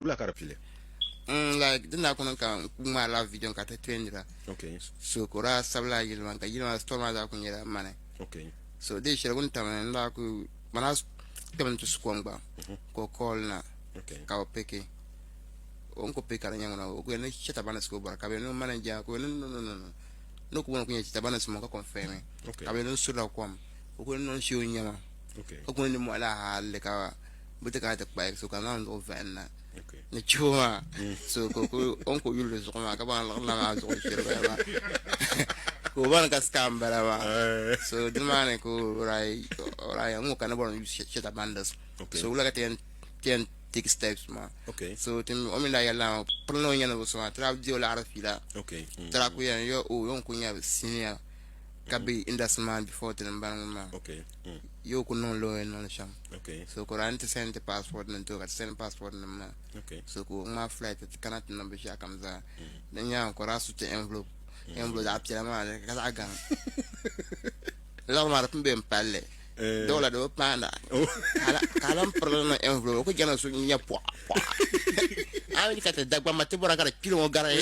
Wula ka di pili? Mm, like din daa kuni ka n ku ŋmaari la video ka ti trend la. Okay. So ka o daa sabi la yili man ka yili man store maa daa ku nyɛla mani. Okay. So dee shɛli wuni tam n daa ku man daa kpɛm n ti su kom gba mhm. ka o call na ka o piki o n ku piki ka di nyɛ ŋuna o ku yɛn ni chɛta banis ka o bɔra ka bɛ niŋ manager ka o yɛn niŋ niŋ niŋ niŋ ni ku bɔna ku nyɛ chɛta banis mo ka confirm ka bɛ niŋ su la kom o ku niŋ niŋ shɛ o nyɛma ka ku niŋ ni mɔɣila hali ka bi ti kana ti kpahi so ka zaŋ zuɣu vahim na ni chibo maa so ka on ko yuli zuɣu maa ka ban liɣirila maa zuɣu chiriba maa ka o bani ka scam bala maa eh. so di maa ni ka oraya ŋo ka ni bɔri shɛta bandis so wula ka ti yɛn take steps maa so ti o mi la yɛlila maa piri ni o nyɛ ni bi so maa tira di o laɣari fiila mm. tira ku yɛn yo o yon ku nyɛ senior ka be industry man before tinim bani ŋun maa yo ku niŋ lo n niŋ shɛm so kora n ti sɛn ti passport nim to ka ti sɛn passport nim maa so ku ŋmaa flight ti kana ti niŋ binshaɣu kam zaa di nyaaŋa kora su ti envelope envelope zaɣ piɛla maa ni ka zaɣ gaŋ lɔɣu maa di pun bɛ n palli dɔla di bi paanda ka lan pirili niŋ envelope ku jɛna su nyɛ pɔɣa pɔɣa a mi ka ti dagbamba ti bɔra ka di kpili ŋɔ gari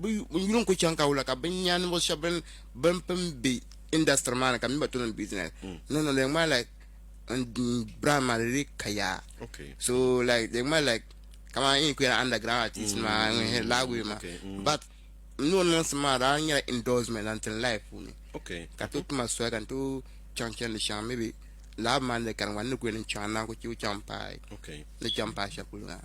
Bɛ yuli n-kuli chaŋ ka wula ka binyɛra ninvuɣ shɛb bɛn pun be industry maa ni ka mi gba tooi niŋ business. No, no, di yɛn ŋmanila like n brand maa di dii ka yaa. So like di yɛn ŋmanila like kamani n yi kuyali underground artist nima ŋun lahi guui maa. But n ni o niŋ sim maa daa nyɛla endorsement zaŋ ti n life puuni ka tooi ti ma soli ka n tooi chaŋ chani di shɛŋa maybe lab maa ni di kani gba n ni kuli yɛli n chaŋ n naan kuli chɛ kuli chaŋ paai ni chaŋ paai shɛli polo maa.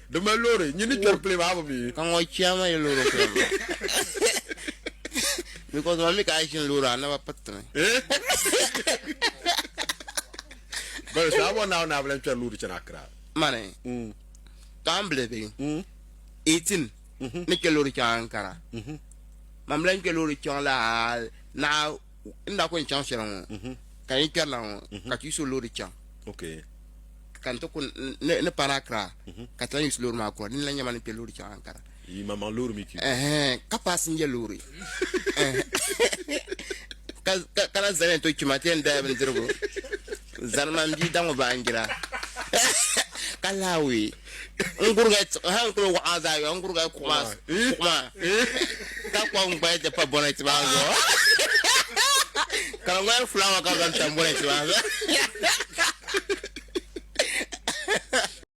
Di mali loori, nyin ni kpɛri pili maa bi mi. Ka ŋɔ chɛya ma yi loori kpɛri maa because ma mi ka a ʒini loori a naba piriti mi. Bala so a bɔ Naawuni ni a bi lan kpɛri loori chani Akra. Mani, ka a ni bili bi, 18, ni kpɛ loori chaŋ Ankara, man bi lan kpɛ loori chaŋ la naɣa n daa kuli chaŋ shɛli ŋɔ ka yi kpɛri la ŋɔ ka ti yuso loori chaŋ ka n ti ku ni paana Accra ka ti lan yusi loori maa kura dini la nyɛma ni kpɛ loori chaŋ Ankara ka paasinja loori ka la zani to kpima ti yɛn daya bindirigu zani man bia daŋɔ baanjira ka laawee N gurigay tiɣi hal n kuli waɣa a zaayɔɣu, n gurigay kuɣu maa, kuɣu maa, ka kpabi n gbaya ti pa bɔnɛti maa zuɣu. Ka di ŋmani fulaawa ka bɛ zaŋ tam bɔnɛti maa zuɣu.